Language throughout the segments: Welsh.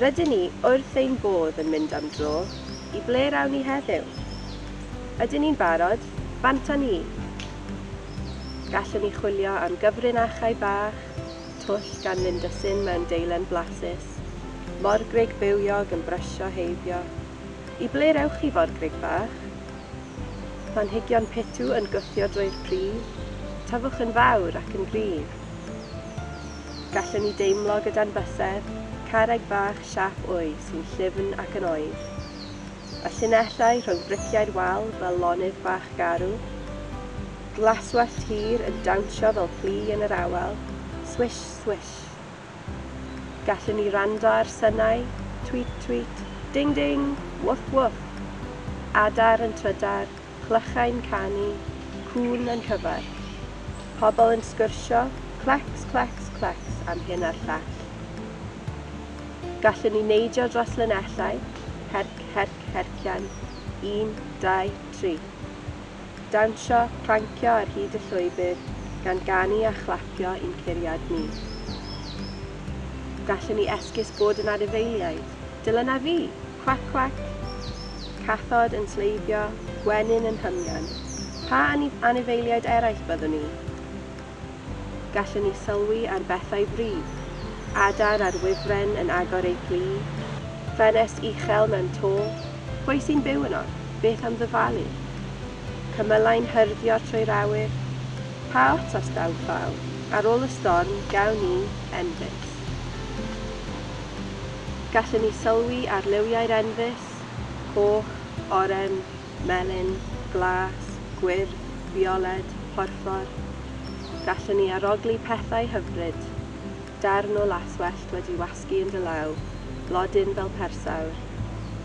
Rydyn ni wrth ein bodd yn mynd am dro, i ble rawn ni heddiw? Ydyn ni'n barod? Bantan ni! Gallwn ni chwilio am gyfrinachau bach, twll gan Linda Sin mewn deilen blasus, morgrug bywiog yn brysio heibio. I ble rewch chi, forgrug bach? Planhigion pitw yn gwthio drwy'r pridd, tyfwch yn fawr ac yn gryf. Gallen ni deimlo gyda'n bysedd, carreg fach siâp wy sy'n llyfn ac yn oer. Y llinellau rhwng briciau'r wal fel lonydd bach garw. Glaswellt hir yn dawnsio fel plu yn yr awel, swish, swish. Gallen ni wrando ar synau, tweet, tweet, ding, ding, wwff, wwff. Adar yn trydar, clychau'n canu, cŵn yn cyfarch, pobl yn sgwrsio, clecs, clecs, clecs am hyn a'r llall. Gallwn ni neidio dros linellau, herc, herc, hercian, un, dau, tri. Dawnsio, prancio ar hyd y llwybr, gan ganu a chlapio i'n curiad ni. Gallwn ni esgus bod yn anifeiliaid. Dylan a fi! Cwac cwac! Cathod yn sleifio, gwenyn yn hymian. Pa anifeiliaid eraill byddwn ni? Gallwn ni sylwi ar bethau fri, adar ar wifren yn agor eu plu, ffenest uchel mewn to, pwy sy'n byw yno? Beth am ddyfalu? Cymylau'n hyrddio trwy'r awyr. Pa ots os daw llaw? Ar ôl y storm, gawn ni endis. Gallen ni sylwi ar liwiau'r enfys, coch, oren, melyn, glas, gwyrdd, fioled, porffor. Gallen ni arogli pethau hyfryd, darn o laswellt wedi wasgu yn dy law, blodyn fel persawr,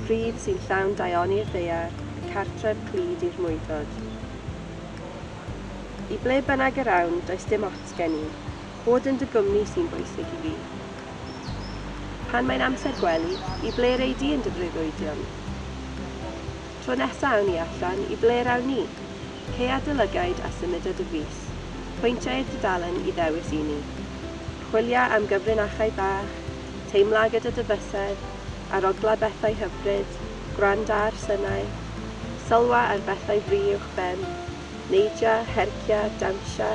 pridd sy'n llawn daioni'r ddaear, cartref clyd i'r mwydod. I ble bynnag yr awn, does dim ots gen i. Bod yn dy gwmni sy'n bwysig i fi. Pan mae'n amser gwely, i ble rei di yn dy freuddwydion? Tro nesa awn ni allan, i ble rawn ni? Ceuad dy lygaid a symuda dy fys. Pwyntia i'r dudalen i ddewis i ni. Chwilia am gyfrinachau bach, teimla gyda dy fysedd, arogla bethau hyfryd, gwranda ar synau, sylwa ar bethau fri uwch ben, neidia, hercia, dawnsha,